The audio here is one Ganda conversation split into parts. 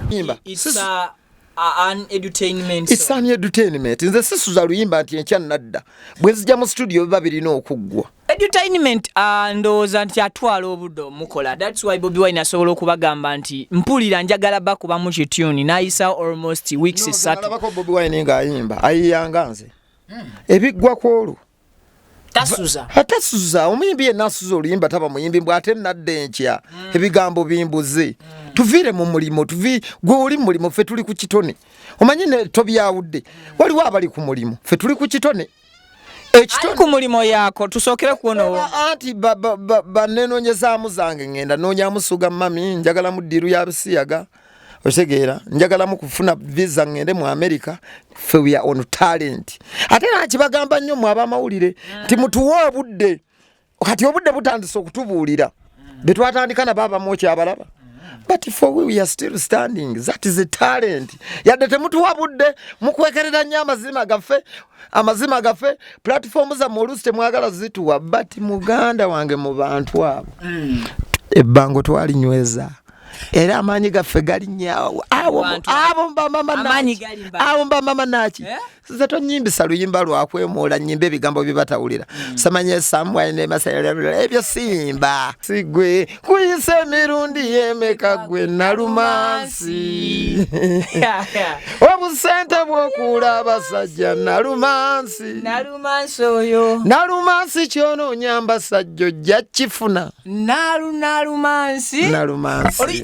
yimba it's a an edutainment it's an edutainment nze sisuza luyimba nti enkya nadda bwe zija mu studio biba birina okuggwa edutainment ah, ndowooza nti atwala obudde omukola thats why bobi wine asobola okubagamba nti mpulira njagala bakuba mu kituni nayisawo almost weeks satu bobi wine ngaayimba ayiyanga nze hmm. ebiggwa kwolwo atasuza omuyimbi yenna asuza oluyimba taba muyimbi mbw ate nadda enkya hmm. ebigambo bimbuze hmm. tuviire mu mulimu tuvi gwe oli mu mulimu ffe tuli ku kitone omanyi ne tobyawudde waliwo abali ku mulimu ffe tuli ku kitone ekitali ku mulimu yako tusookere kuonowo anti banenonyezamu zange ngenda nonyamu suga mami njagala mu diru ya bisiyaga otegeera njagalamu kufuna visa ngende mu america fe we are on talent ate nakibagamba nnyo mwe abamawulire nti mutuwe obudde kati obudde butandise okutubuulira betwatandika nabo abamu okyabalaba but for we, we are still standing that is a talent yadde temutuwa budde mukwekerera nnyo amazima gaffe amazima gaffe platform zammwe oluusi temwagala zituwa but muganda wange mu bantu abo mm. ebbango twalinyweza era amaanyi gaffe galinyawo abo mbamama naki eh? nze tonyimbisa luyimba lwakwemoola nyimba ebigambo byebatawulira mm. samanya esamwanemasayalabula ebyo simba sigwe kuyisa emirundi yemeka gwe nalumansi obusente bwokuula abasajja nalumansi nalumansi oyo nalumansi kyonoonyamba sajja ojja kifuna nalu nalumansi nalumansi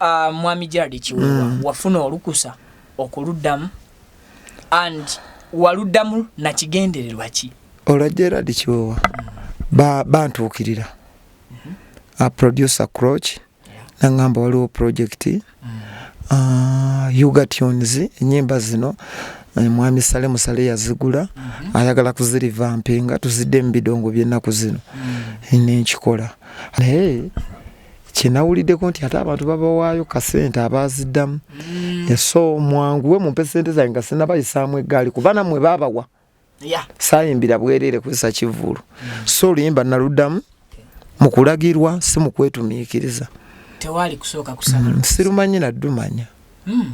Ah, mwami jaradi kiwewa mm. wafuna olukusa okuluddamu and waluddamu nakigendererwa ki olwa jaradi kiwewa mm. bantuukirira ba mm-hmm. a producer croch yeah. nangamba waliwo project mm. uh, ah, ugatunes enyimba zino eh, mwami sale musale yazigula mm -hmm. ayagala kuzirivampinga tuzidde mu bidongo byennaku zino mm. nenkikola naye hey, kyenawulideko nti ate abantu babawaayo kasente abaziddamu mm. eso mwanguwe mumpe sente zange nga sinabayisaamu eggaali kuba namwe babawa sayimbira bwerere kusa kivulu mm. so oluyimba naluddamu mukulagirwa si mukwetumiikiriza mm, sirumanyi naddumanya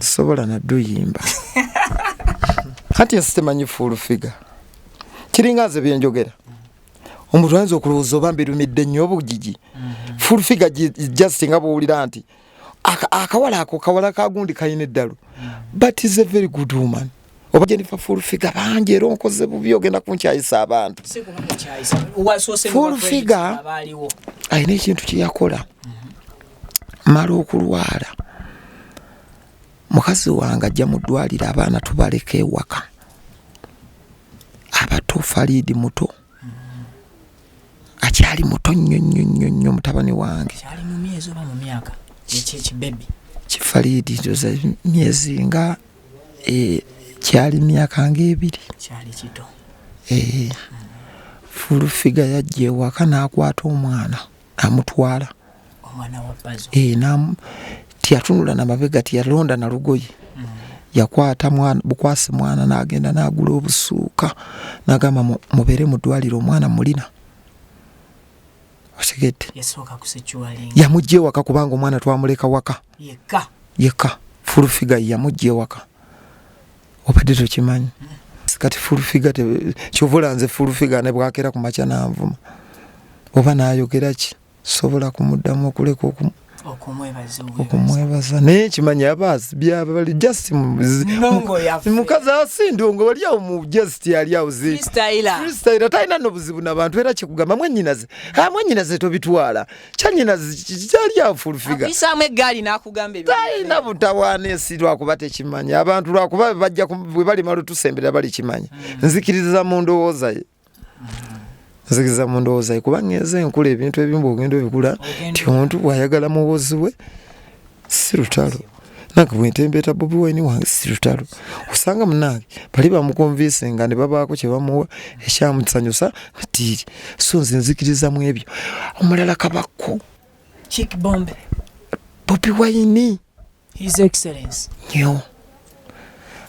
sobola nadduyimba kati nsitemanyi fuulu figa kiringa nze byenjogera omuntu ayinza okulowooza oba mbirumidde nnyo obugigi mm-hmm. full figure just nga bwowulira nti akawala ako kawala kagundi kalina eddalu mm-hmm. but is a very good woman oba jennifer full figure bangi era onkoze bubi ogenda kunkyayisa abantu full figure alina ekintu kyeyakola mm-hmm. mala okulwala mukazi wange ajja mu ddwaliro abaana tubaleka ewaka abato faliidi muto akyali muto nnyo nnyo nnyo nnyo mutabani wange kifaliidi ndoza myezi nga e, kyali myaka ngaebiri e, fulufiga yajja ewaka n'akwata omwana amutwala eh, tiyatunula na mabega tiyalonda na lugoye mm. yakwata mwana bukwasi mwana nagenda nagula obusuuka nagamba mubere mudwaliro omwana mulina otegedde yamujja ewaka kubanga omwana twamuleka waka yeka fulufiga yamujja ewaka obadde tokimanyi kati fulfiga kyovula nze fulfiga ne bwakera ku makya nanvuma oba nayogera ki sobola kumuddamu okuleka okumu okumwebaza naye kimanya abaasi byaba bali just mukazi asindongo wali awo mu just yali awo zifreestyla talina nobuzibu nabantu era kyekugamba mwenyinaze mwenyinaze tobitwala kyanyinazi kyali afulfiga apisaamu eggaali n'akugamba talina butawaana ensi lwakuba tekimanya abantu lwakuba bajja bwe balimala otusembera balikimanya hmm. nzikiriza mu ndowooza ye nzikiriza mu ndowooza ye kubanga enze enkula ebintu ebimu bwogenda obikula nti omuntu bwayagala muwozi we si lutalo nange bwentembeeta bobi wine wange si lutalo osanga munange bali bamukonvinse nga ne babaako kye bamuwa ekyamusanyusa natiiri so nze nzikiriza mu ebyo omulala kabakko kikbombe bobi wine his excellence nyo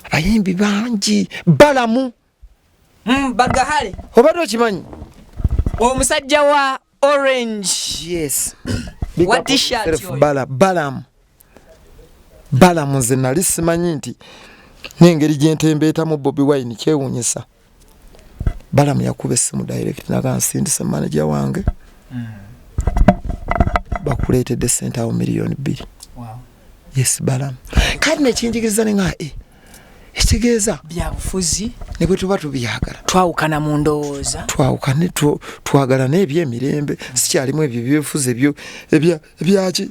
abayimbi bangi balamu mm, bagahale obadde okimanyi omusajja wa orange yes what t-shirt bala balam balam nze nali simanyi nti nengeri gyentembeeta mu bobi wine kyewunyisa balam yakuba essimu direct naga nsindise manaja wange mm. bakuleetedde sente awo miliyoni bbiri wow. yes balam kati nekinjigiriza nenga e eh, ekitegeeza byabufuzi ne bwe tuba tubyagala twawukana mu ndowooza twawukane twagala n'ebyo emirembe sikyalimu ebyo byefuzi ebyo ebyaki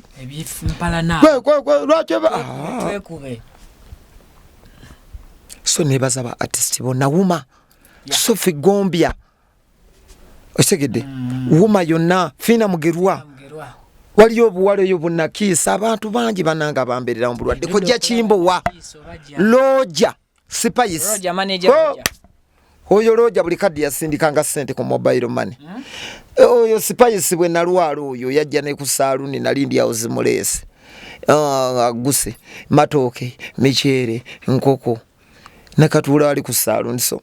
lwaki so nebaza ba artist bona wuma sofi gombya okitegedde mm. wuma yonna fiina mugerwa waliyo obuwala eyo bunakiisa abantu bangi bananga bambererawo bulwadde kojja kimbowa looja sipayisi oh! oyo looja buli kaddi yasindikanga sente ku mobile money hmm? eh, oyo sipayisi bwe nalwala oyo yajja ne ku saaluni nali ndyawo zimuleese ah, aguse matooke miceere nkoko nakatuula ali ku saaluni so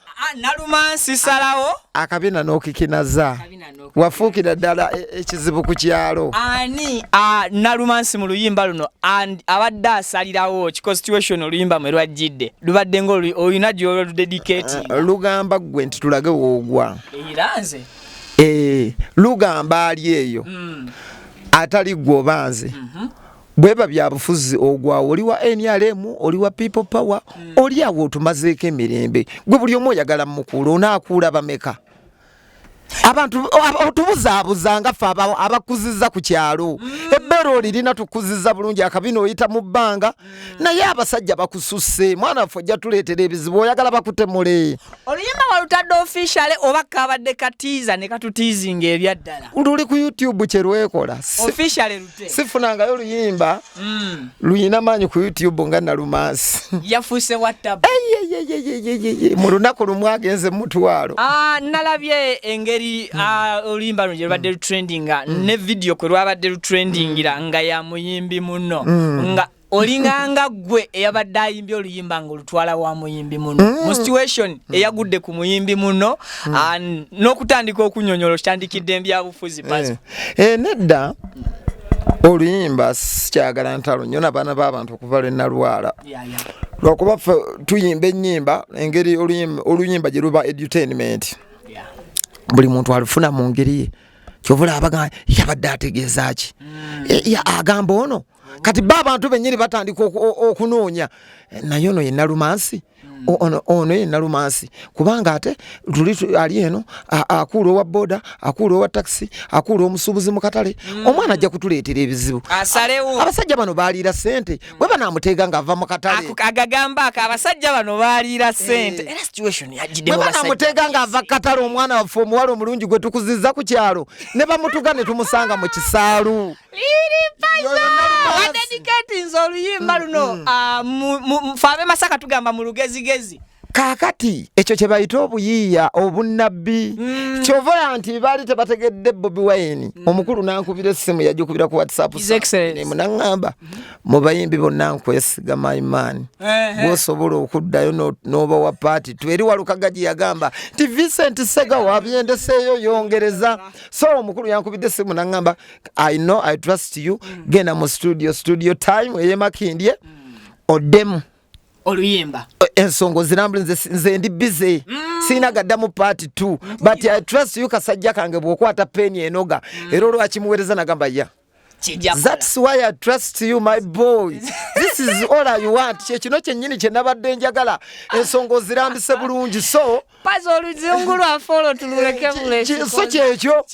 nalumansi salawo akabina n'okikinaza wafuukira ddala e, ekizibu ku kyalo ani nalumansi mu luyimba luno abadde asalirawo kiconstitution oluyimba mwe lwajjidde lubadde nga olina gyoludedicati eh, eh, lugamba ggwe nti tulage woogwa eranze eh, lugamba ali eyo hmm. atali gwe obanze mhm. bweba byabufuzi ogwawo oli wa nrm oli wa people power mm. oli awo otumazeeko emirembe gwe buli omu oyagala mukuula onaakuula bameka abantu otubuzaabuza nga ffe abakuziza ku kyalo mm. ebbeera olirina tukuziza bulungi akabina oyita mu bbanga mm. naye abasajja bakususse mwana waffe ojja tuleetera ebizibu oyagala bakutemule oluyimba walutadde ofishale oba kabadde katiiza ne katutiizinga ebyaddala luli ku youtube kye lwekola sifunangayo luyimba mm. luyina maanyi ku youtube nga nalumansi yafuuse watab mu lunaku lumu agenze mumutwalo ah, nalabye engeri ah, oluyimba luno gyelubadde mm. lutrendinga mm. ne vidiyo kwe lwabadde lutrendingira nga yamuyimbi muno nga olinganga gwe eyabadde ayimbye oluyimba nga olutwala wa muyimbi muno mm. mu situation mm. eyagudde ku muyimbi muno mm. n'okutandika okunyonyola okitandikidde mbyabufuzi eh. eh, nedda oluyimba sikyagala ntalo nyo nabaana b'abantu okuva lwe nalwala lwakuba ffe tuyimba ennyimba engeri oluyimba gye luba edutainment buli muntu alufuna mu ngeri ye kyovula abaga yabadde ategeeza ki mm. eh, agamba ono kati ba abantu bennyini batandika okunoonya eh, naye ono yenalumansi hmm. ono yenalumansi kubanga ate luli ali eno akuula owa boda akuula owa takisi akuula omusuubuzi mu katale hmm. omwana ajja kutuleetera ebizibu abasajja bano baaliira sente hmm. bwe banaamuteega ng'ava mu katale agagamba ako abasajja bano baaliira eh. sente bwe banaamuteega ng'ava katale omwana waffe omuwala omulungi gwe tukuziza ku kyalo ne bamutuga ne tumusanga mu kisaalu adediketinze oluyimba mm, luno mm. Ah, fe abemasaka tugamba mu lugezigezi kakati ekyo kyebayita obuyiiya obunnabbi mm. kyovola nti baali tebategedde bobi wine mm. omukulu nankubira essimu yajukubira ku whatsappmunaŋamba mu bayimbi bonna nkwesiga myman gwosobola okuddayo n'oba wa paati tweri walukaga gye yagamba nti vincent sega wabyendeseeyo yongereza so omukulu yankubidde essimu naŋamba i know i trust you mm. genda mu studio studio time eyemakindye mm. odemu oluyimba ensonga ozirambula nze ndi bize mm. sirina gaddamu paati t but i trust you kasajja kange bwokwata peni enoga mm. era olwakimuweereza nagamba ya That's why I trust you my boy. This is all I want. Kye kino kyennyini kye nabadde njagala ensonga ozirambise bulungi so pazi oluzungu lwaffe olwo tululeke buleso kyekyo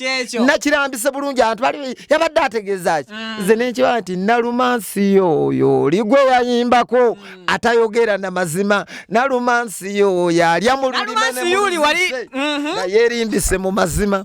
nakirambise bulungi abantu bali yabadde ategeezaki mm. nze nenkiba nti nalumansi yo oyo oli gwe yayimbako mm. atayogera na mazima nalumansi yo oyo alya mu lulimi mm-hmm. naye erimbise mu mazima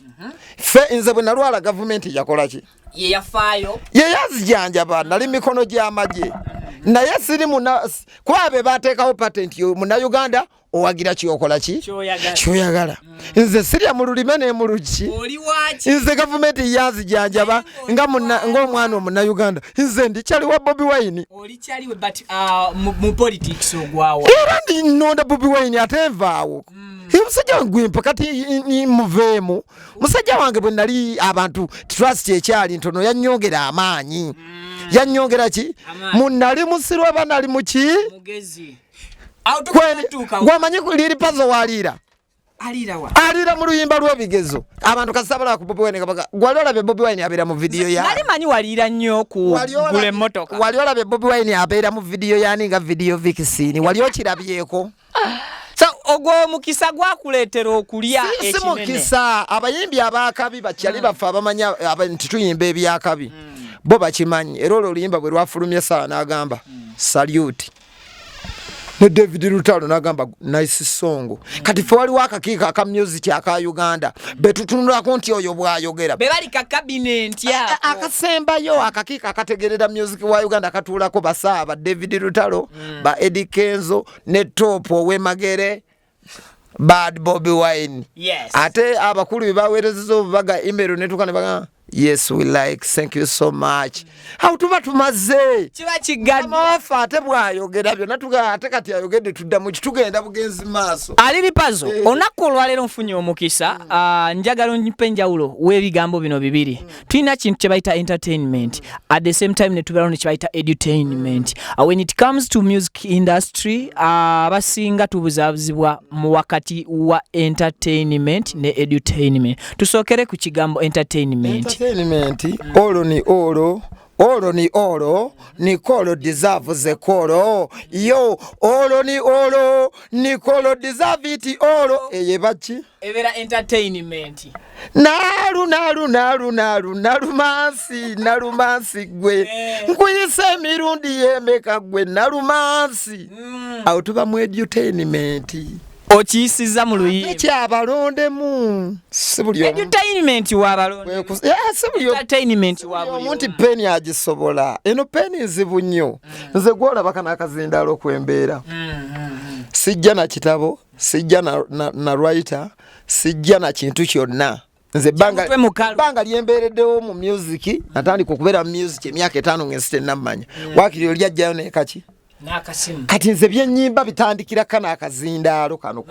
mhm. ffe nze bwe nalwala gavumenti yakolaki yeyafaayo yeyazijanjaba nali mikono gy'amagye mhm. naye siri kuba be bateekawo patenti munauganda owagira kyokola ki kyoyagala mm. nze sirya mu lulime ne mu luki nze gavumenti yanzijanjaba ngaomwana omunauganda nze ndikyali wa bobi wine uh, era ndinonda bobi wine ate nvaawo mm. omusajja wange gwempa kati muveemu musajja wange bwe nali abantu trust ekyali ntono yanyongera amaanyi mm. yanyongera ki munali musiru aba nali muki gwamanyi liri pazo waliira aliira mu luyimba lw'ebigezo abantu kasabalaa ku bobi wine kabaga wali olabye bobi wine abeera mu vidiyo yanali manyi waliira nnyo kugula emmotoka wali olabye bobi wine abeera mu vidiyo yani nga vidiyo vikisini wali okirabyeko so ogwo omukisa gwakuleetera okulya si mukisa abayimbi abakabi bakyali mm. baffe abamanya nti tuyimba ebyakabi mm. bo bakimanyi era olwo oluyimba bwe lwafulumye esawa n'agamba mm. saluti ne david lutalo nagamba nice song kati fe waliwo akakiiko aka music aka uganda betutunulako nti oyo bwayogera akasembayo akakiiko akategerera music wa uganda akatuulako basaaba david lutalo mm. ba Eddie Kenzo ne Top owemagere bad Bobby Wine yes. ate abakulu bebawerezeza obubaga email netuka nebaga yes we like thank you so much how tuba tumaze kiba kigadamawafe ate bwayogera byona tuga ate kati ayogedde tuddamu kitugenda bugenzi maaso ali bipazo eh. olunaku olwaleero nfunye omukisa mm. uh, njagala onyipe enjawulo w'ebigambo bino bibiri mm. tulina kintu kyebayita entertainment at the same time netubeerawo nekyebayita edutainment uh, when it comes to music industry uh, abasinga uh, tubuzabuzibwa mu wakati wa entertainment ne edutainment tusookere ku kigambo entertainment olwo ni olwo Olo ni olo ni kolo deserve ze kolo yo olo ni olo ni kolo deserve iti olo eye bachi ebera entertainment nalu nalu nalu nalu nalu mansi nalu mansi gwe eh. nkuyise mirundi yemeka gwe nalu mansi mm. autuba mu edutainment okiyisiza mu luyimbaabalondemu nti peni agisobola eno peni nzibu nnyo mm. nze gwolabaka nakazindaala okwembeera mm, mm, sijja na kitabo sijja na, na, na writer sijja na kintu kyonna nze banga lyembeereddewo mu music natandika okubeera mu music emyaka etaano ngensi tennammanya mm. wakiri oli ajjayo naye kaki kati nze byenyimba bitandikira kana akazindaalo kano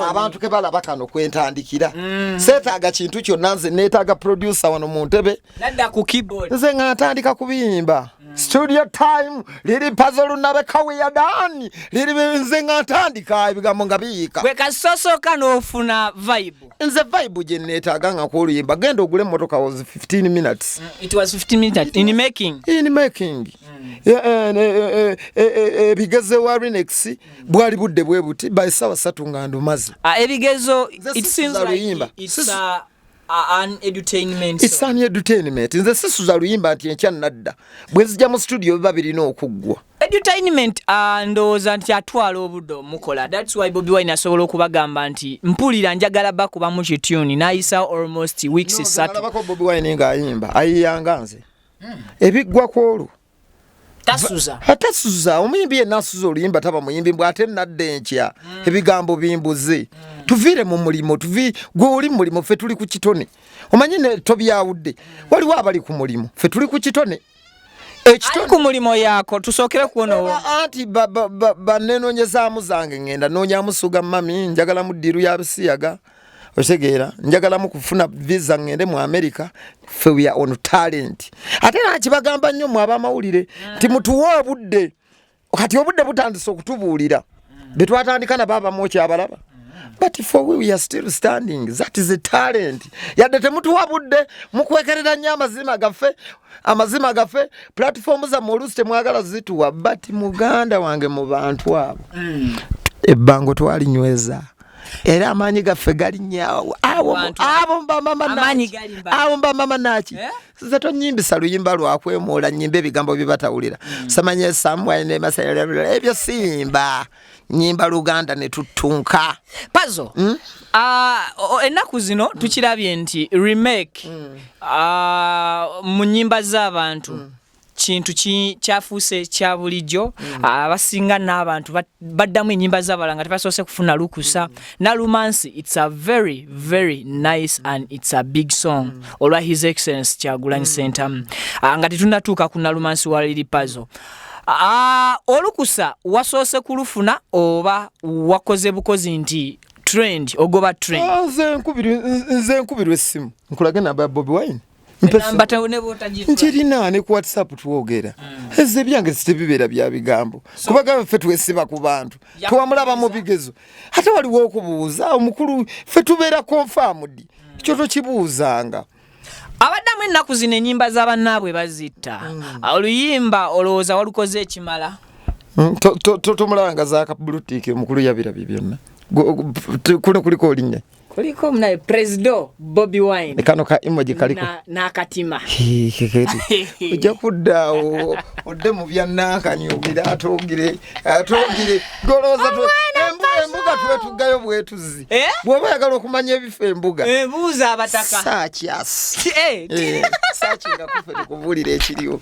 abantu kebalaba kano kwentandikira mm. seetaaga kintu kyonna nze neetaaga producer wano mu ntebe Nadda ku keyboard. Nze nga natandika kubiyimba. Mm. Studio time liri pazo lunabe kawi ya dani liri nze nga natandika ebigambo nga biyika. Gwe kasosoka n'ofuna vibe. Nze vibe gye neetaaga nga kwoluyimba genda ogule emmotoka was 15 minutes. Mm. It was 15 minutes in making. In making. Mm. Eh, eh, eh, ebigezo wa Rinex mm. bwali budde bwe buti by sawa satu nga ndumazi. Ah, ebigezo it seems like it's a uh, isani edutainment nze sisuza luyimba nti enkya nadda bwe nzija mu situdiyo biba birina okuggwa edutainment ah, ndowooza nti atwala obude omukola thats why bobi wine asobola okubagamba nti mpulira njagala bakuba mu kituni nayisa almost weeks esatu bobi wine ngaayimba ayiyanga nze hmm. ebiggwa kwolwo tasuza atasuza omuyimbi yenna asuza oluyimba taba muyimbi mbw ate nadda enkya mm. ebigambo bimbuze mm. tuviire mu mulimu tuvi gwe oli mulimu ffe tuli ku kitone omanyi ne tobyawudde mm. waliwo abali ku mulimu ffe tuli ku kitone ekitone ku mulimu yaako tusookere kuwonawo anti banenonyezaamu zange ngenda noonyamusuga mami njagalamu ddiiru ya bisiyaga otegeera njagalamu kufuna visa ngende mu america fe we are on talent ate nakibagamba nnyo mwe abamawulire nti mutuwe obudde kati obudde butandise okutubuulira betwatandika nabo abamu okyabalaba but for we, we are still standing that is a talent yadde temutuwa budde mukwekerera nnyo amazima gaffe amazima gaffe platform zamme oluusi temwagala zituwa but muganda wange mu bantu abo mm. ebbango twalinyweza era amaanyi gaffe galinnyawo abo mbamama naki eh? nze tonyimbisa luyimba lwakwemuula nyimba ebigambo byebatawulira mm. samanye samwanemasayalabula ebyo siyimba nyimba luganda netuttunka pazo hmm? ah, ennaku zino hmm. tukirabye nti remake hmm. ah, mu nyimba z'abantu kintu kyafuuse kya bulijjo mm. abasinga n'abantu baddamu enyimba zabala nga tebasoose kufuna lukusa mm. nalumansi its a very very nice and its a big song mm. olwa his excellence kyagulanyi sentamu ah, nga tetunatuuka ku nalumansi wa liri pazo ah, olukusa wasoose kulufuna oba wakoze bukozi nti trend ogoba trend ah, nze nkubirwa essimu nkulage namba ya bobi wine nkirina ne ku whatsapp twogera hmm. eze byange sitebibeera bya bigambo kubagamba ffe twesiba ku bantu twamulaba mu bigezo ate waliwo okubuuza omukulu ffe tubeera konfamudi hmm. kyo tokibuuzanga abaddamu ennaku zino enyimba za bannaabwe bazitta hmm. oluyimba olowooza walukoze ekimala tomulabanga zakabulutiiki omukulu yabirabye byonna kuno kuliko olinya kuliko munaye presido bobi wine ne kano ka emoji kaliko n'akatima ojja kuddaawo odde mu bya nankani ogire ate ogire ate ogire golooza embuga tube tuggayo bwetuzi eh? bw'oba oyagala okumanya ebifo embuga eh, buuza abataka saakyasi eh, saaki nga kuffe tukubuulira ekiriwo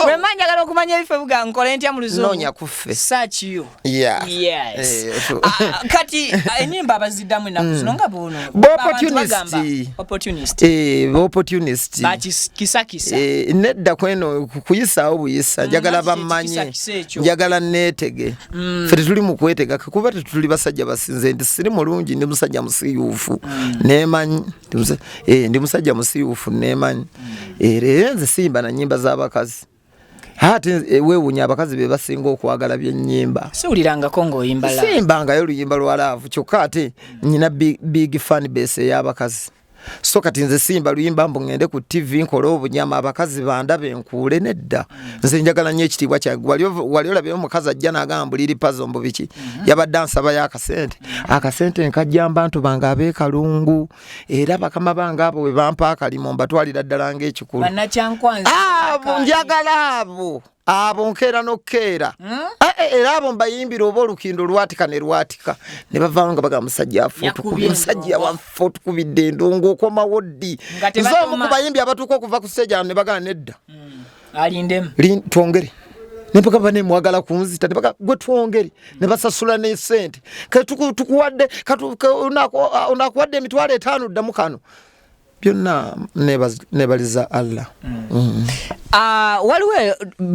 wemba njagala okumanya ebifo ebuga nkole ntya mu luzungu noonya kuffe saakiyo Yeah. Yes. Eh, so- Ah, ah, kati ah, enyimba abaziddamu ennaku zino nga buno Ba Abantu opportunist. bagamba, opportunist Eh, ba opportunist bakisakisa Eh, nedda kweno ku- kuyisaawo buyisa njagala Mazzi bamanye ekisakisa ekyo. njagala neetege ffe tetuli mu kwetega kuba tetuli basajja basinze nti siri mulungi ndi musajja musiyuufu nemanyi Ndi musa- eh, ndi musajja musiyuufu nemanyi era era nze siyimba na nyimba z'abakazi ate eh, wewunya abakazi be basinga okwagala byenyimba siwulirangako ngaoyimba simbangayo oluyimba lwa laavu kyokka ate nyina big fan base ey'abakazi so kati nze simba luyimba mbu ngende ku tv nkole obunyama abakazi bandabe nkuule nedda nze njagala nyo ekitiibwa kyange wali olabye omukazi ajja nagamba mbuliri pazo mbu biki mhm. yabadde ansabayo akasente akasente nkajjamba ntu bange abekalungu era bakama bange abo bwe bampa akalimu mbatwalira ddala ng'ekikulu abo njagala abo abo nkeera n'okukeera hmm? eh, eh, era abo mbayimbira oba olukindo lwatika ne lwatika ne bavaamu nga bagamba musajja afutukubye musajja wafutukubidde endongo okomawo ddi nze omu ku bayimbi abatuuka okuva ku siteegi ano ne bagana nedda hmm. alindemu twongere nempaka bane mwagala kunzita nempaka gwe twongere ne basasula ne sente katukuwadde onakuwadde emitwalo etaano ddamu kano byonna nebaliza allah mm. Mm. Ah, waliwo eh,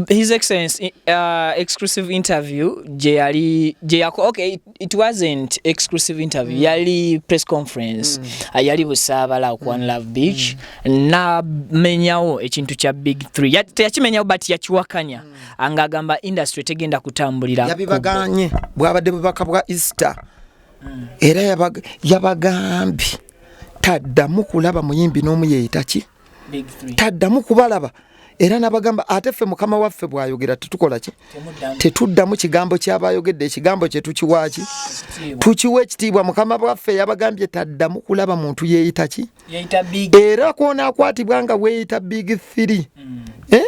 his excellence eh, ah, exclusive interview gyeyali gyeyakola okay it wasn't exclusive interview mm. yali press conference mm. uh, yali busaabala ku one love beach mm. namenyawo ekintu kya big 3 teyakimenyawo but yakiwakanya mm. nga agamba industry tegenda kutambulira yabibaganye bwabadde bubaka bwa easter mm. era yabagambye yabag taddamu kulaba muyimbi n'omu yeeyita ki taddamu kubalaba era nabagamba ate ffe mukama waffe bwayogera tetukola ki tetuddamu kigambo kyaba ayogedde ekigambo kye tukiwaaki tukiwa ekitiibwa mukama waffe yabagambye taddamu kulaba muntu yeeyita ki era kwonakwatibwa nga weeyita big three mm. eh?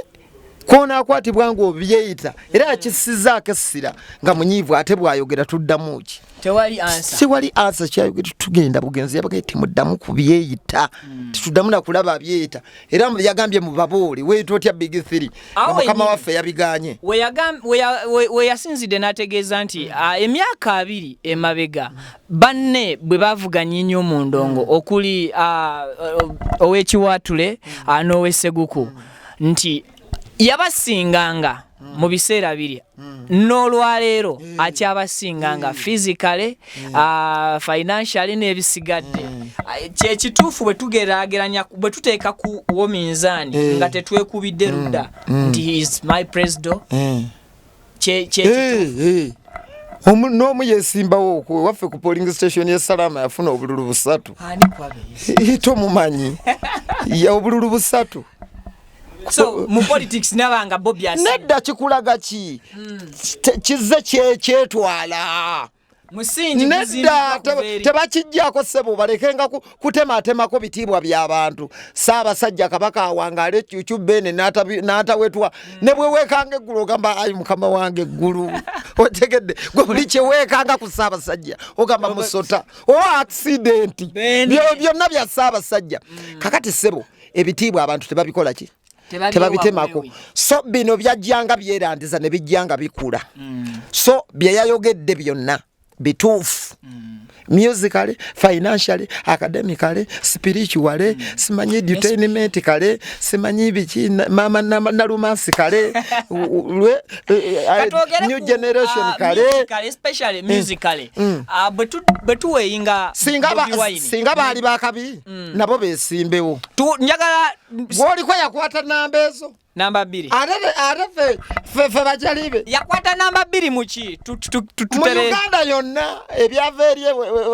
kwonaakwatibwa ng'obyeyita era yakisizaako essira nga munyiivu ate bw'ayogera tuddamu ki siwali ansa kyayogera tugenda bugenzi yabagaye temuddamu ku byeyita hmm. tetuddamu nakulaba abyeyita era yagambye mu babuuli weyita otya big three omukama waffe yabiganye weyasinzidde n'ategeeza nti hmm. ah, emyaka abiri emabega banne bwe bavuganye nnyo mu ndongo hmm. okuli ah, owekiwatule ah, n'oweseguku mm. nti yabasinganga mm. mu biseera biri mm. n'olwaleero mm. akyabasinganga mm. physically mm. uh, financially n'ebisigadde mm. uh, kyekituufu bwe tugerageranya bwe tuteeka ku wo minzaani mm. nga tetwekubidde ludda mm. nti mm. he is my president mm. kye kye eh, omu n'omu yesimbawo okwo waffe ku polling station ya salama yafuna obululu busatu tomumanyi ya obululu busatu so mu politics nabanga bobi nedda kikulaga ki hmm. kizze kyetwala nedda tebakijjako sebo balekenga kutematemako bitiibwa byabantu saabasajja kabaka awangaala ekyukyu bene natawetwa mm. ne bwewekanga eggulu ogamba ayi mukama wange eggulu otegedde gwe buli kyewekanga ku saabasajja ogamba musota o accidenti byonna bya saabasajja mm. kakati sebo ebitiibwa abantu tebabikola ki tebabitemako so bino byajjanga byerandiza ne bijjanga bikula mm. so bye yayogedde byonna bituufu mm. musically financially academically spiritually mm. simanyi edutainment kale simanyi biki mama nalumansi kale lwe e, e, e, new generation uh, kale singa baali bakabi nabo besimbewo gwoliko yakwata namba ezo namba bbiri ate fe bajalibe yakwata namba bbiri muki mu uganda yonna ebyava eri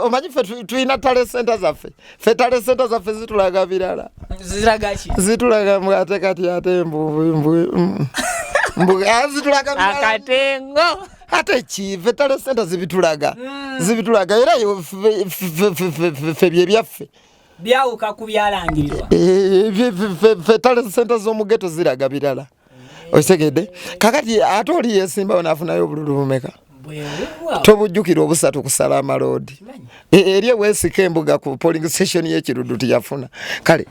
omanyi fe tulina tale senta zaffe fe tale senta zaffe zitulaga birala zitulaga ate kati ate mbuzitulaga mm. akatengo ate ki fe tale senta zibitulaga mm. zibitulaga era fe byebyaffe byawuka ku byalangirirwa ffe tale sente z'omugeto ziraga birala okitegedde kakati ate oli yesimbawo nafunayo obululu bumeka tobujjukira obusatu kusala amaloodi e, eri ewesika embuga ku polling station yekirudu tiyafuna kale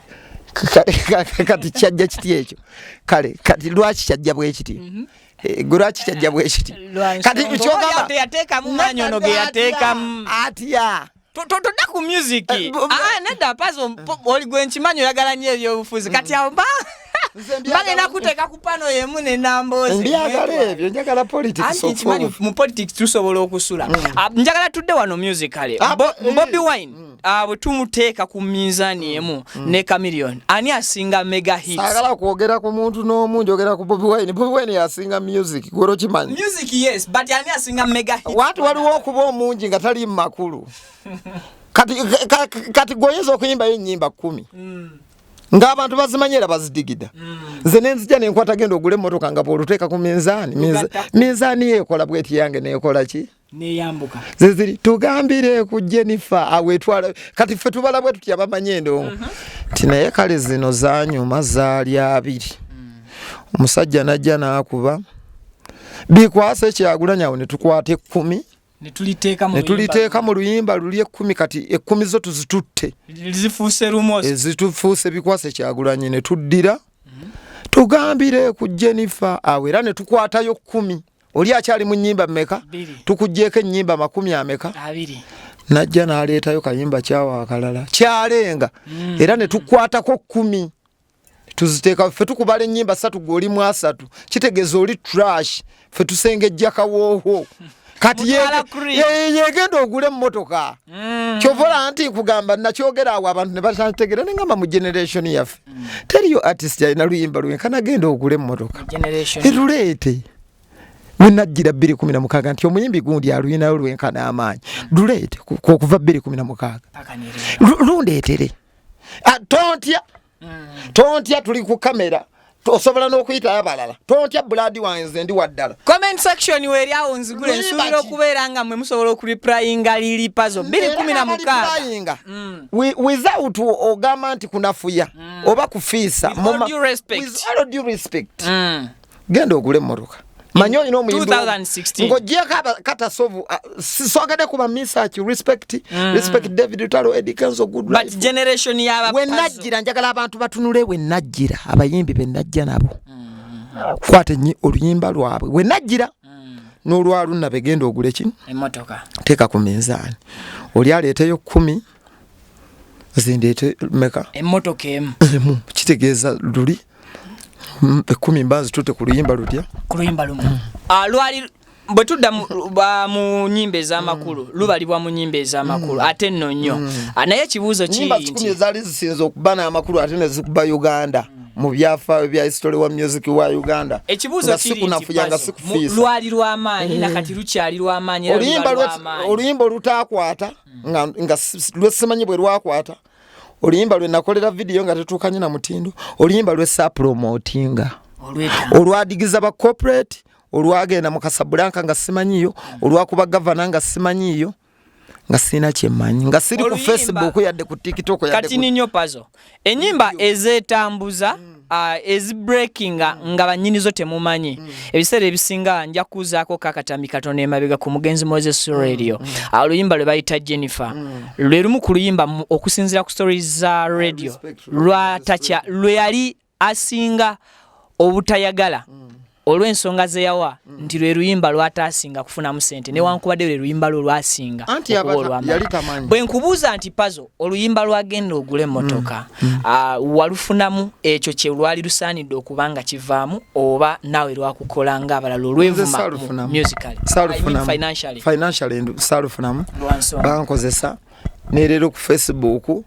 kati kyajja kiti ekyo kale kati lwaki kyajja bwekiti mhm. e, lwaki kyajja bwekiti kati kyogamba atya todda ku music eh, ah, nedda pazo oli gwe nkimanyi oyagala nnyo ebyobufuzi kati awo ba bagenda kuteeka ku pano yemu nenambozibyagala ebyo njagala politicsnkimanyi mu politics tusobola okusula mm. ah, njagala tudde wano musicale ah, bobi eh. wine mm. ah, bwe tumuteeka ku minzani emu mm. ne Chameleon ani asinga mega hits agala kwogera ku muntu n'omu njogera ku Bobi Wine Bobi Wine yasinga music gwero kimanyi music yes but ani asinga mega hits watu waliwo okuba omungi nga tali mu makulu kati kati goyinza okuyimbayo ennyimba kumi mm. ng'abantu bazimanyi era bazidigida mm. nze mm. nenzija nenkwata genda ogule emmotoka nga bwoluteeka ku minzaani minzaani yeekola bweti yange neekola ki neyambuka zeziri tugambire ku Jennifer awetwala kati ffe tubala bwe tutya bamanyi endongo uh-huh. nti naye kale zino zanyuma zaali abiri mm. omusajja najja n'akuba bikwasa ekyagulanya awo ne tukwata ekkumi netuliteeka mu luyimba luli ekkumi kati ekkumi zo tuzitutte ezitufuuse bikwasa ekyagulanye ne tuddira mm-hmm. tugambire ku Jennifer awo era ne tukwatayo kkumi oli akyali mu nyimba meka tukujeko enyimba makumi ameka najja naleetayo kayimba kyawa akalala kyalenga mm. era netukwatako kumi tuziteeka fe tukubala enyimba satu gwolimu asatu kitegeza oli trash fe tusengejja kawooho kati yegenda ogula emotoka Mm. kyovola nti nkugamba nakyogera awo abantu nebatantegera nengamba mu generation yaffe mm. teriyo artist yalina luyimba lwenkana genda ogula emmotoka eruleete wenajjira bbiri kumi na mukaaga nti omuyimbi gundi aluyinayo lwenkana amaanyi luleete mm. okuva bbiri kumi na mukaaga lundeetere ah, tontya mm. tontya tuli ku kamera osobola n'okuyitayo abalala tontya buladi wange nze ndi waddala comment section weeri awo nzigule nsuubira okubeera nga mwe musobola okuriplayinga lili pazo 216 mm. without ogamba nti kunafuya mm. oba kufiisa with all due respect mm. genda ogule emmotoka manyi olina omuyimbiongojeko katasovu uh, sisogede kuba misaki respect mm. respect david utalo edikenzo goodwenajjira njagala abantu batunule wenajjira abayimbi benajja nabo mm. kwata enyi oluyimba lwabwe wenajjira mm. nolwalunna begenda ogule ki teeka ku minzaani oli aleeteyo kumi mm. zindeete meka emmotoka emu emu kitegeeza luli mm, ekkumi mba nzitutte ku luyimba lutya ku luyimba lumu Ah, lwali bwe tudda mu- ba- mu nyimba ez'amakulu lubalibwa mu nyimba ez'amakulu ate nno nnyo Ah, naye ekibuuzo kiri nyimba kikumi nti ezaali zisinza okuba n'amakulu ate ne zikuba uganda mu byafaayo bya history wa music wa uganda ekibuuzo Nga kiri nti sikunafuya nga Pazo, mu- sikufiisa. lwali lw'amaanyi na kati lukyali lw'amaanyi era oluyimba luba lwe- lw'amaanyi. oluyimba olutaakwata nga, nga lwesimanyi bwe lwakwata oluyimba lwe nakolera vidiyo nga tetuukanye na mutindo oluyimba lwesaapulomotinga olwadigiza ba corporate olwagenda mu kasabulanka nga simanyiyo olwakuba gavana nga simanyiyo nga sirina kyemanyi nga siri ku facebook yadde ku tiktok kati ninyo pazo enyimba ezetambuza mm. uh, ezi breaking ah, mm. nga banyini zo temumanyi mm. ebiseera ebisinga nja kuzaako kakatami katono emabega ku mugenzi moses mm. radio mm. uh, oluyimba lwe bayita jennifer mm. lwe lumu ku luyimba okusinzira ku stories za radio lwatakya lwe yali asinga obutayagala mm. olw'ensonga ze yawa mm. nti lwe luyimba lwataasinga kufunamu sente mm. newankubadde lwe luyimba lwo lwasinga bwe nkubuuza nti pazo oluyimba lwagenda ogula emmotoka mm. ah, walufunamu ekyo kye lwali lusaanidde okuba nga kivaamu oba naawe lwakukola nga abalala olwevumamusicallyfinanciallysalufunamu bankozesa nerero ku facebook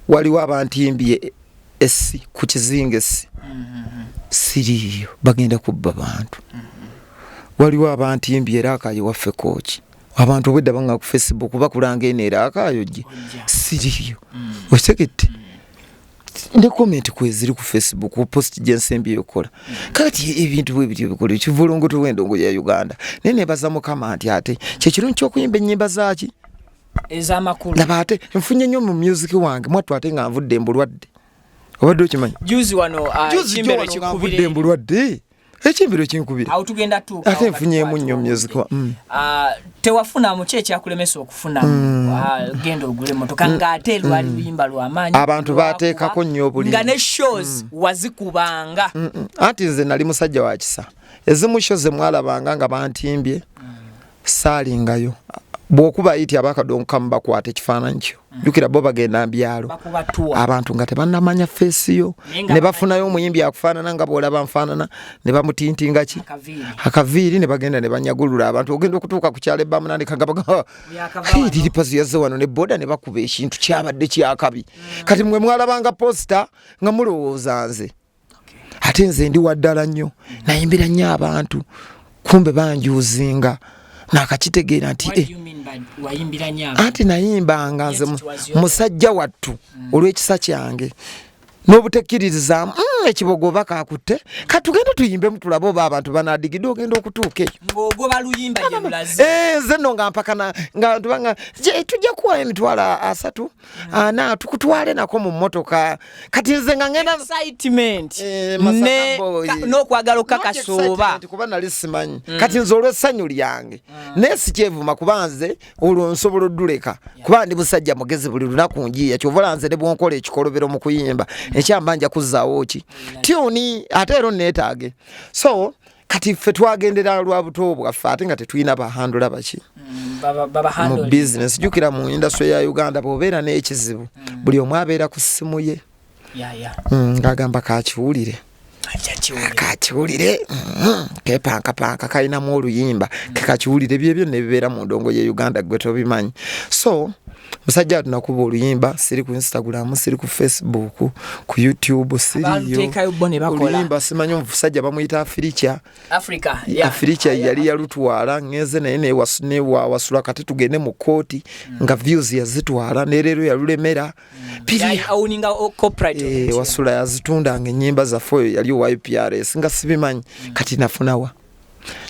waliwo abantimbye essi ku kizinga essi siriiyo bagenda kubba bantu waliwo abantimbi era akayo waffe kooki abantu obwedda banga ku facebook bakulanga eno era akayo gye siriiyo okitegedde ne komenti kweziri ku facebook ku post gyensembi yokukola kati ebintu bwebiri ebikola ekivulungutu wendongo ya uganda naye nebaza mukama nti ate kyekirungi kyokuyimba ennyimba zaki ezamakulu laba ate nfunye nnyo mu music wange mwattu ate nga nvudde mbulwadde obadde okimanyi juzi wano uh, kimbero kikubire mbulwadde ekimbiro kinkubira awo tugenda tuuka ate nfunyeemu nnyo music mm. uh, tewafuna muki ekyakulemesa okufuna mm. uh, genda ogule motoka mm. ng'ate lwali luyimba lwamaanyi abantu bateekako nnyo obuli nga ne shows wazikubanga anti nze nali musajja wa kisa ezimu sho ze mwalabanga nga bantimbye saalingayo bwokuba ayiti abakadonkamu bakwata ekifaananyi kyo mm. jukira bo bagenda mbyalo abantu nga tebanamanya feesi yo ne bafunayo omuyimbi akufaanana nga bwolaba nfaanana ne bamutintinga ki akaviiri ne bagenda ne banyagulula abantu ogenda okutuuka ku kyalo ebamunandika nga bagamba liripazi yazze wano ne boda ne bakuba ekintu kyabadde kyakabi mm. kati mwe mwalabanga posita nga mulowooza nze ate nze ndi waddala nnyo nayimbira nnyo abantu kumbe banjuzinga nakakitegeera nti eh, anti nayimbanga nze musajja wattu mm. olw'ekisa kyange n'obutekkiririzaamu mm, ekibogo oba kakutte katugende tuyimbemu tulabe oba abantu banadigide ogenda okutuuka eyoenze eh, no nga mpakana nga tubanga tujja kuwayo emitwalo asatu ana tukutwale nako mu motoka kati nze nga ngenda excitement eh, ne no kwagalo kaka soba kuba nali simanyi mm. kati nze olwe sanyu lyange mm. ne sikyevuma kuba nze olwo nsobola oduleka yeah. kuba ndi busajja mugezi buli lunaku njiya kyovola nze ne bwonkola ekikolobero mu kuyimba mm. ekyambanja kuzawo ki mm. tiuni ate ero netage so kati ffe twagendera lwa buto bwaffe ate nga tetulina bahandula baki mm, mu bizinesi jukira mu industry ya uganda bwobeera n'ekizibu mm. buli omu abeera ku ssimu ye mm, ng'agamba kakiwulire kakiwulire mm-hmm. kepankapanka kalinamu oluyimba kekakiwulire byebyo nebibeera mu ndongo ye uganda gwe tobimanyi so musajja watu nakuba oluyimba siri ku instagram siri ku facebook ku youtube siriyooluyimba simanyi omusajja bamuyita afirikya afirikya yali yalutwala ngeze naye newawasula kati tugende mu kooti hmm. nga views yazitwala nereero yalulemera eh, wasula yazitunda nga enyimba zaffe oyo yali owa uprs nga sibimanyi hmm. kati nafunawa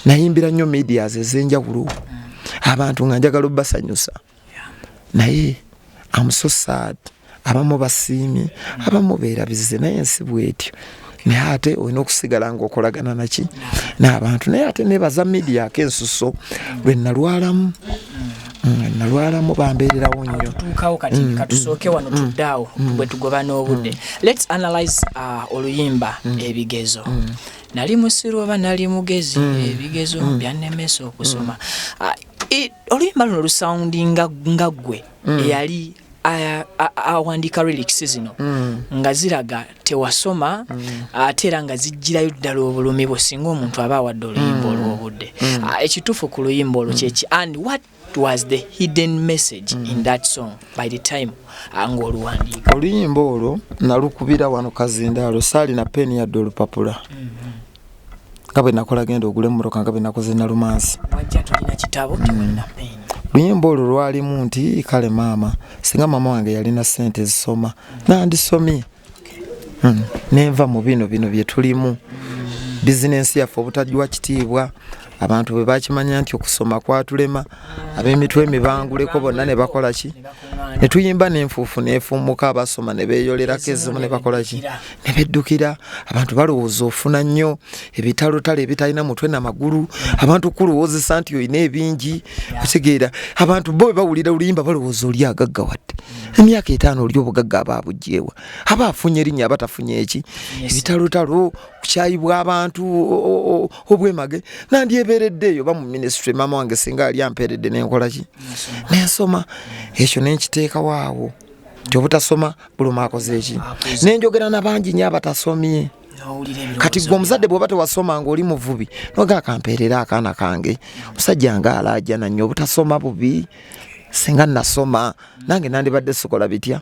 nayimbira nnyo medias ezenjawulo hmm. abantu nga njagala obasanyusa naye am so sad abamu basiimye abamu beerabize naye ensi bwetyo naye ate olina okusigala nga okolagana naki n'abantu naye ate nebaza media ako ensuso lwe nalwalamu mm, nalwalamu bambeererawo nnyo tuukawo kati mm, katusooke mm, wano tuddaawo bwe tugoba n'obudde lets analyze uh, oluyimba ebigezo nali musiru oba nali mugezi ebigezo byannemesa okusoma ah, e, oluyimba luno lusawundi nga ggwe mm. eyali awandiika relics zino mm. nga ziraga tewasoma mm. ate era nga zijjirayo ddala obulumi bwe singa omuntu aba awadde oluyimba mm. olw'obudde mm. Ah, ekituufu ku luyimba olwo mm. kyeki and what was the hidden message mm. in that song by the time ah, nga oluwandiika oluyimba olwo nalukubira wano kazindaalo saalina peeni yadde olupapula mm -hmm. nga bwe nakola genda ogule emmotoka nga bwe nakoze nalumansi mm. luyimba olwo lwalimu nti kale maama singa maama wange yalina ssente ezisoma nandisomye mm. nenva mu bino bino bye tulimu bizinensi yaffe obutagiwa kitiibwa abantu bwe bakimanya nti okusoma kwatulema ab'emitwe emibanguleko bonna ne bakola ki ne tuyimba n'enfuufu neefuumuka abasoma ne beeyolerako ezimu ne bakola ki ne beddukira abantu balowooza ofuna nnyo ebitalotale ebitalina mutwe na magulu abantu kukulowoozesa nti olina ebingi otegeera abantu bo bawulira oluyimba balowooza oli agagga wadde emyaka etaano oli obugagga aba abugyewa aba afunye erinnya abatafunye eki ebitalotalo kukyayibwa abantu obwemage nandyebeeredde eyo ba mu minisitule maama wange singa ali ampeeredde nenkola ki nensoma ekyo nenkiteekawo awo nti obutasoma buluma akoze eki nenjogera nabangi nyo abatasomye kati gwe omuzadde bwoba tewasoma ngaoli muvubi noga akampeerera akaana kange omusajja nga alaajana nyo obutasoma bubi singa nasoma nange nandibadde sikola bitya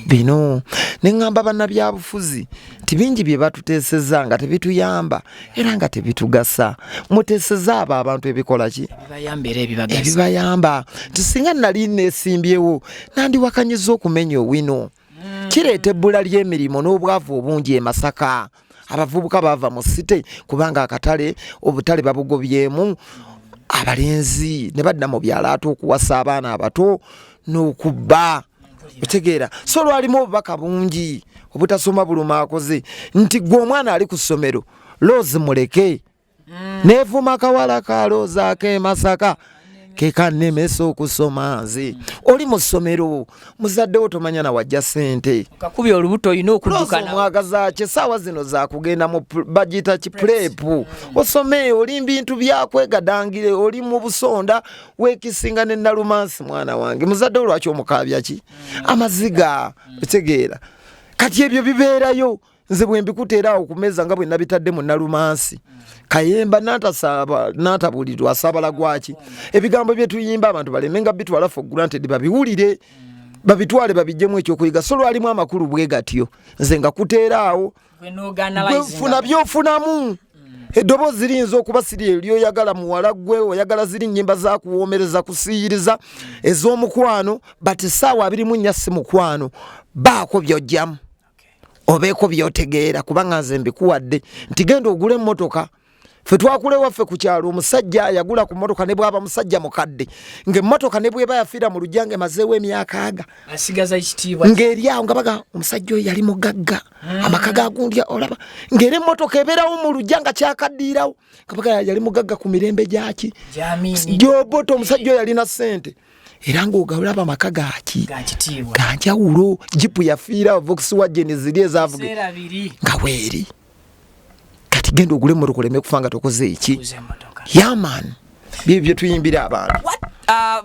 bino neŋamba bannabyabufuzi nti bingi bye batuteeseza nga tebituyamba era nga tebitugasa muteeseza abo abantu ebikola ki ebibayamba nti singa nali nesimbyewo nandiwakanyiza okumenya owino hmm. kireeta ebbula ly'emirimu n'obwavu obungi e masaka abavubuka baava mu site kubanga akatale obutale babugobyemu abalenzi ne badda mu byalo ate okuwasa abaana abato n'okubba otegeera so lwalimu obubaka bungi obutasoma buluma akoze nti gwe omwana ali ku ssomero loozi muleke mm. nevuma kawala kaloozaako emasaka kekanemesa okusoma nze mm. oli mu ssomero muzaddewo tomanya nawajja sente kakubya olubuto olina okudukanomwagazaki saawa zino zakugenda mu bagiyita ki pulepu mm. osome oli mbintu byakwegadangire oli mu busonda wekisinga ne nalumansi mwana wange muzadde olwaki omukaabya ki amaziga otegeera kati ebyo bibeerayo nze bwembikuta era awo kumeza nga bwenabitadde mu nalumansi kayemba natasaba natabulirwa asabala gwaki ebigambo byetuyimba abantu baleme nga bitwala for granted babiwulire babitwale babijjemu ekyokuyiga so lwalimu amakulu bwe gatyo nze nga kuteeraawo gwenfuna byofunamu eddoboozi liyinza okuba siri eryoyagala muwala gwe oyagala ziri nyimba zakuwoomereza kusiyiriza ez'omukwano but saawa abirimu nnya si mukwano baako byojjamu obeeko byotegeera kubanga nze mbikuwadde nti genda ogula emmotoka fe twakula ewaffe ku kyalo omusajja yagula ku mmotoka ne bwaba musajja mukadde ng'emmotoka ne bweba yafiira mu lujja nga emazeewo emyaka aga ng'eri awo nga baga omusajja oyo yali mugagga ah. amaka gagundya olaba ng'era emmotoka ebeerawo mu lujja nga kyakaddiirawo nga baga yali mugagga ku mirembe gyaki gyoboto omusajja oyo yalina ssente era ng'ogabula abo amaka gaki ganjawulo jipu yafiira vokisi wa jeni ziri ezavuga nga weeri kati genda ogule emmotoka oleme kufa nga tokoze eki yamaani byebyo bye tuyimbira abantu ah,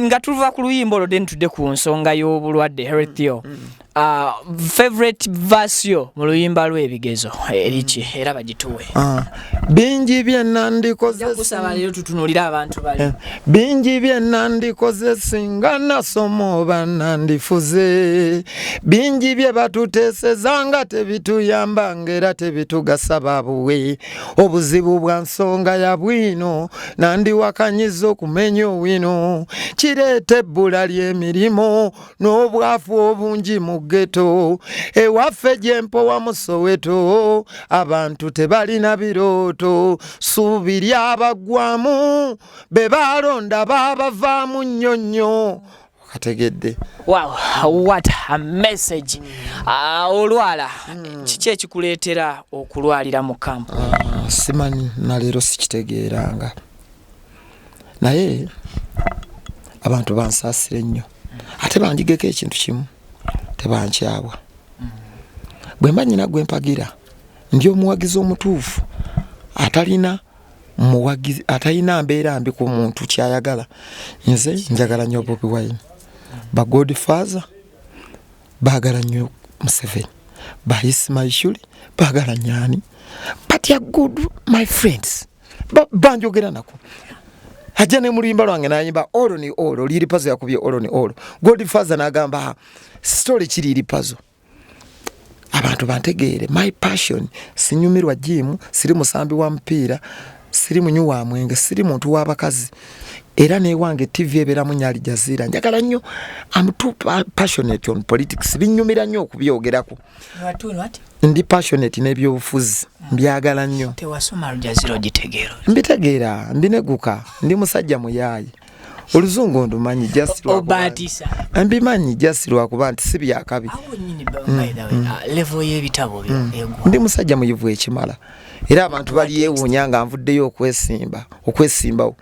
nga tuva ku luyimba olwo deni tudde ku nsonga y'obulwadde herethio mm, mm. Uh, favorite verse yo mu luyimba lw'ebigezo eriki eh, era bagituwe ah, bingi bye nandikozesaba leero tutunulira abantu bali eh, bingi bye nandikoze singa nasoma oba nandifuze bingi bye batuteeseza nga tebituyamba ngaera tebitugasa babuwe obuzibu bwa nsonga ya bwino nandiwakanyiza okumenya owino kireeta ebbula ly'emirimu n'obwavu obungi mu ggeto ewaffe gyempowa mu soweto abantu tebalina birooto suubi lyabaggwamu be baalonda baabavaamu nnyo nnyo ategedde wow what a message ah, olwala hmm. kiki ekikuleetera okulwalira mu kampu ah, simanyi naleero sikitegeeranga naye abantu bansaasire nnyo ate banjigeko ekintu kimu tebankyabwa bwe mba nyina gwe mpagira ndi omuwagizi omutuufu atalina muwagizi atalina mbeera mbi ku muntu kyayagala nze njagala nnyo bobi wine ba god father baagala nnyo museveni ba ismaishuli baagala nyani but ya good my friends mm. banjogera nako ajja ne muluyimba lwange nayimba olo ni olo liri pazo yakubye olo ni olo gold faza nagamba story kiri iri pazo abantu bantegeere my passion sinyumirwa jimu siri musambi wa mpiira siri munyu wa mwenge siri muntu wa bakazi era newange tv eberamu nyo alijazira njagala nnyo am too passionate on politics binyumira nnyo okubyogerako ndi passionate n'ebyobufuzi mbyagala nnyo mbitegeera mbineguka ndi musajja muyaayi oluzungu ndumanyi just obatisa mbimanyi just lwakuba nti si byakabi mm, mm. Ah, level y'ebitabo mm. ndi musajja muyivu ekimala era abantu balyewuunya nga nvuddeyo okwesimba okwesimbawo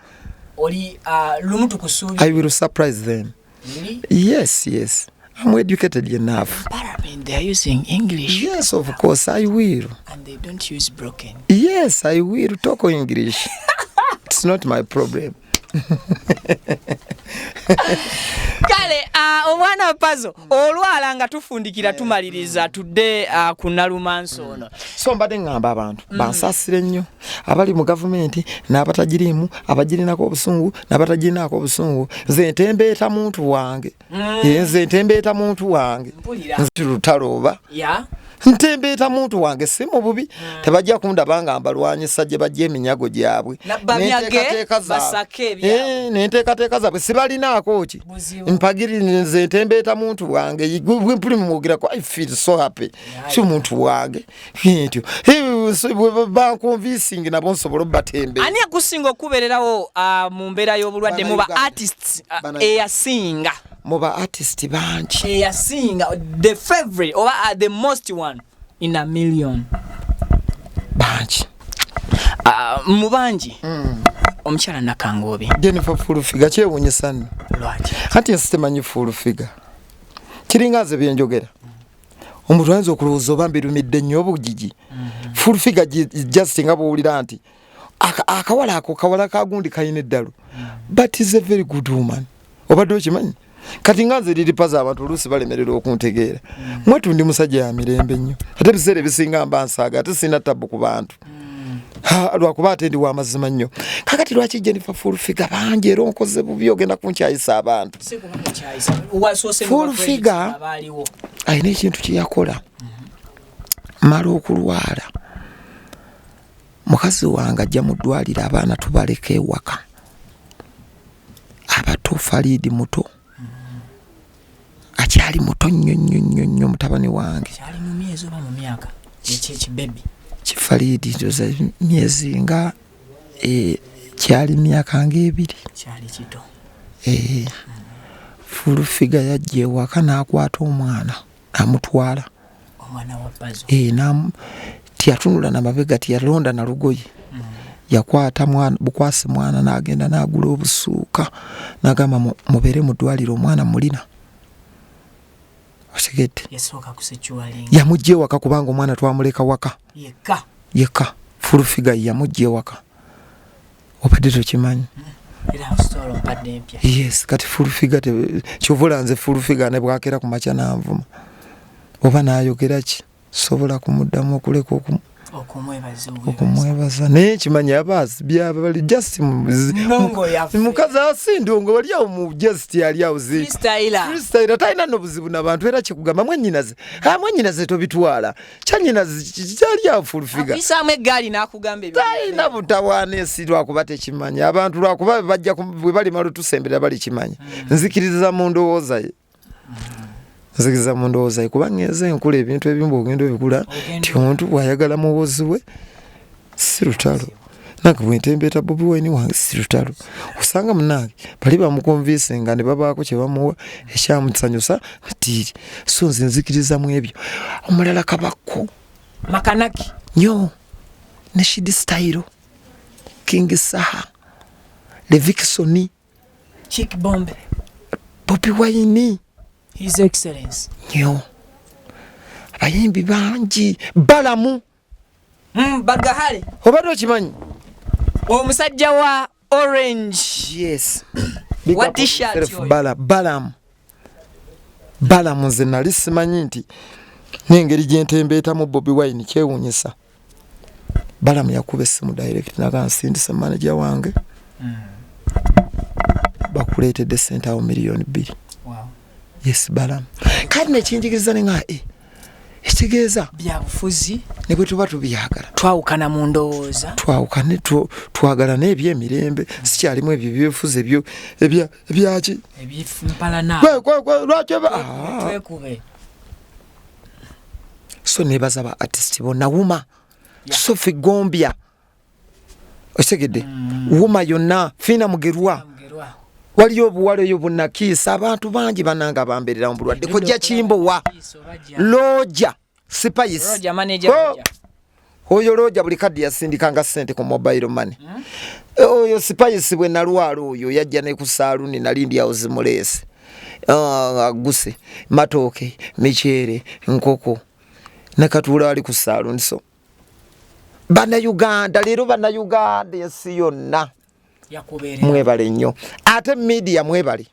oli ah, lumu tukusuubira i will surprise them Really? Yes, yes. I'm educated enough. Parliament, they are using English. Yes, of course, I will. And they don't use broken. Yes, I will talk English. It's not my problem. kale ah, omwana pazo olwala nga tufundikira tumaliriza tudde ah, ku nalumansi ono so mbadde ŋŋamba abantu mm. bansasire nnyo abali mu gavumenti n'abatagiriimu abagirinako obusungu n'abatagirinaako obusungu nze ntembeeta muntu wange mm. eh, nze ntembeeta muntu wange nze lutalo oba ntembeeta muntu wange si mu bubi mm. tebajja kundaba nga mbalwanyisa gye bajja eminyago gyabwe nenteekateeka zaabwe eh, sibalinaako ki mpagiririnze ntembeeta muntu wange mpuli mumwogerako i feel so happy si muntu wange ntyo bankonvisingi nabo nsobola obatembe ani akusinga okubererawo ah, mu mbeera y'obulwadde muba artists ah, eyasinga muba artist bangi eyasinga the favorite oba ah, the most one in a million bangi mu bangi mm. omukyala nakangoobi jennifer fulfiga kyewunyisa nno kati nsitemanyi fulfiga kiringa nze byenjogera omuntu ayinza okulowooza oba mbirumidde nnyo obugigi mm-hmm. full figure just nga bwowulira nti akawala ako kawala kagundi kalina eddalu mm-hmm. but is a very good woman obadde okimanyi kati nga nze liri paza abantu oluusi balemerera okuntegeera mm-hmm. mwetu ndi musajja ya mirembe nnyo ate ebiseera ebisinga mba nsaaga ate sirina tabbu ku bantu lwakuba ate ndi wamazima nnyo kakati lwaki jennifer fulfiga bangi era onkoze bubi ogenda kunkyayisa abantu fulfiga alina ekintu kyeyakola mala okulwala mukazi wange ajja mu ddwaliro abaana tubaleka ewaka abato faliidi muto akyali muto nnyo nnyo nnyo nnyo mutabani wange akyali mu myezi oba mu myaka ekyekibebi kifaliidi ndoza myezi nga e, kyali myaka ngaebiri kyali kito ee eh, fulufiga yajja ewaka n'akwata omwana amutwala omwana wa pazo eh nam tiyatunula na mabega tiyalonda na lugoye mm. yakwata mwana bukwasi mwana nagenda nagula obusuuka nagamba mubere mudwaliro omwana mulina osigedde yamujja ewaka kubanga omwana twamuleka waka yeka yeka fulufiga yamujja ewaka obadde tokimanyi yes kati fulfiga kyovula nze fulfiga ne bwakera ku makya nanvuma oba nayogera ki sobola kumuddamu okuleka okumwebaza naye kimanyi abaasi byaba bali just mukazi asindiwo nga wali awo mu just yali awo zifreestyla talina nobuzibu nabantu era kikugamba mwenyinaze mwenyinaze tobitwala kyanyinazi kyali afulfiga apisaamu eggaali n'akugamba talina butawaana ensi lwakuba tekimanya abantu lwakuba bajja bwe balimala otusembera balikimanya hmm. nzikiriza mu ndowooza ye nzikiriza mu ndowooza ye kubanga enze enkula ebintu ebimu bwogenda obikula nti omuntu bwayagala muwozi we si lutalo nange bwentembeeta bobi wine wange si lutalo osanga munange bali bamukonvinse nga ne babaako kye bamuwa ekyamusanyusa natiiri so nze nzikiriza mu ebyo omulala kabakko makanaki nyo ne shidi stayiro king saha levikisoni chick bombe bobi wine his excellence nyo abayimbi bangi balamu mm, bagahale obadde okimanyi omusajja wa orange yes bala balamu balamu nze nali simanyi nti nengeri gyentembeetamu bobi wine kyewunyisa balamu yakuba essimu direct naga nsindise manaja wange mm. bakuleetedde sente awo miliyoni bbiri wow. yes balamu kati nekinjigiriza nenga e eh, ekitegeeza byabufuzi ne bwe tuba tubyagala twawukana mu ndowooza twawukane twagala n'ebyo emirembe sikyalimu ebyo byefuzi ebyo ebyaki lwaki so nebaza ba artist bona wuma sofi gombya okitegedde mm. wuma yonna fiina mugerwa waliyo obuwala eyo bunakiisa abantu bangi bananga bambererawo bulwadde kojja kimbowa looja sipayisi oh! oyo looja buli kaddi yasindikanga sente ku mobile money hmm? eh, oyo sipayisi bwe nalwala oyo yajja ne ku saaluni nali ndi awo zimuleese ah, aguse matooke miceere nkoko nakatuula ali ku saaluni so bannayuganda leero bannayuganda ensi yonna mwebale nnyo ate midiya mwebale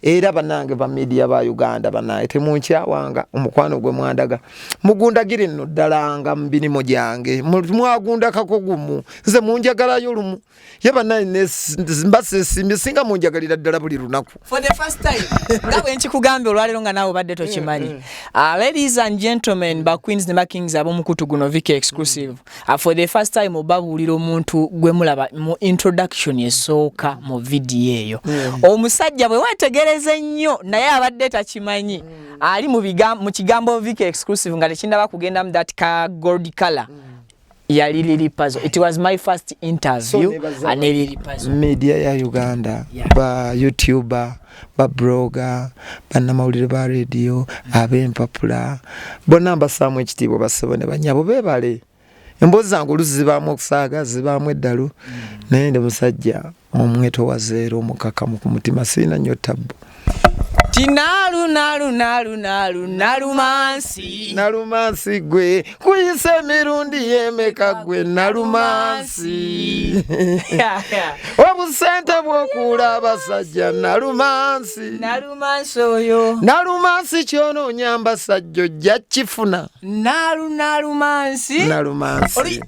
era banange ba midiya ba uganda banange temunkyawanga omukwano gwe mwandaga mugundagire nno ddalanga mubirimu gyange mwagundakako gumu nze munjagalayo lumu ye banaye mba sesimbye singa munjagalira ddala buli lunaku for the first time nga bwe nkikugambye olwaleero nga naawe obadde tokimanyi mm, mm. Ah, ladies and gentlemen ba queens ne bakings ab'omukutu guno vika exclusive ah, for the first time obabuulira omuntu gwe mulaba mu introduction esooka mu vidiyo eyo mm. omusajja bwe wetegereze nnyo naye abadde takimanyi ali mu kigambo vika exclusive nga tekindaba kugendamu that ka gold color yali lili pazo it was my first interview so, and lili pazo media ya uganda yeah. ba youtuber ba broga banamawulire ba radio mm -hmm. abempapula bona mbasaamu ekitiibwa basebo ne banyabo bebale emboozi zange oluzi zibaamu okusaaga zibaamu eddalu mm -hmm. naye ndi musajja Omwetowaze era omukakamu ku mutima sirina nnyo tabbu. Tinalunalunalunalunalumansi nalumansi gwe kuyise emirundi yemeka gwe nalumansi obusente bwokuula abasajja nalumansi nalumansi oyo nalumansi kyononyamba sajja ojja kifuna nalunalumansi nalumansi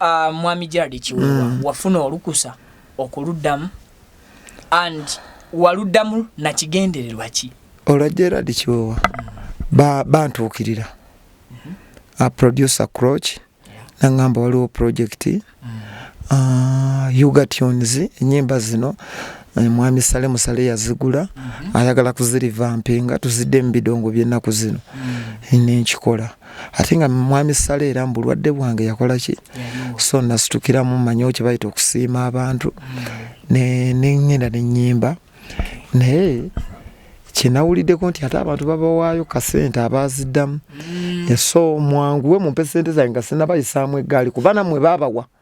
Uh, mwami Gerald Kiwewa mm. wafuna olukusa okuluddamu and waluddamu na kigendererwa ki? Olwa Gerald Kiwewa mm. ba bantuukirira mm -hmm. a producer Croch yeah. nangamba waliwo project mm. uh, Uga Tunes enyimba zino eh, mwami Sale Musale yazigula mm -hmm. ayagala kuzirivampinga tuzidde mu bidongo by'ennaku zino mm. nenkikola ate nga mwami sale era mubulwadde bwange yakola ki so nasitukiramu manyiwo kyebayita okusiima abantu nengenda nenyimba naye kyenawuliddeko nti ate abantu babawaayo kasente abaziddamu mm. eso mwanguwe mumpe sente zange nga sinabayisaamu eggaali kuba namwe babawa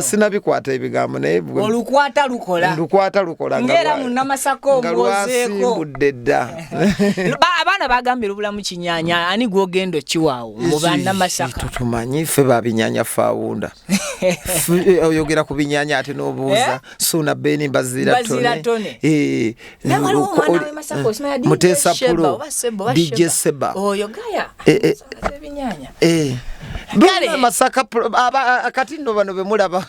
sinabikwata ebigambo naye olukwata lukola lukwata lukola ngera munamasaka omwozeekodde dda abaana bagambye lubulamu kinyanya ani gwogenda okiwaawo mu banamasaka tutumanyi ffe babinyanya fawunda eh, oyogera ku binyanya ate n'obuuza eh? suuna beni mbaziratone eh, mutesa pulo dj seba oyo gaya eh, eh. ebinyanya eh. Bale masaka akati no bano bemulaba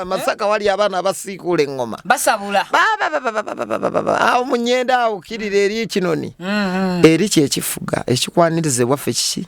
masaka wali abana abasiikula engoma basabula baba baba baba baba awo munyenda awo kirire eri kinoni mm-hmm. eri kyekifuga ekikwanirize waffe kiki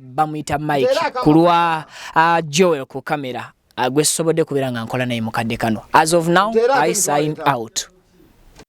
bamuyita mike ku lwa uh, joel ku kamera uh, gwesobodde kubeera nga nkola naye mukadde kano as of now i sign out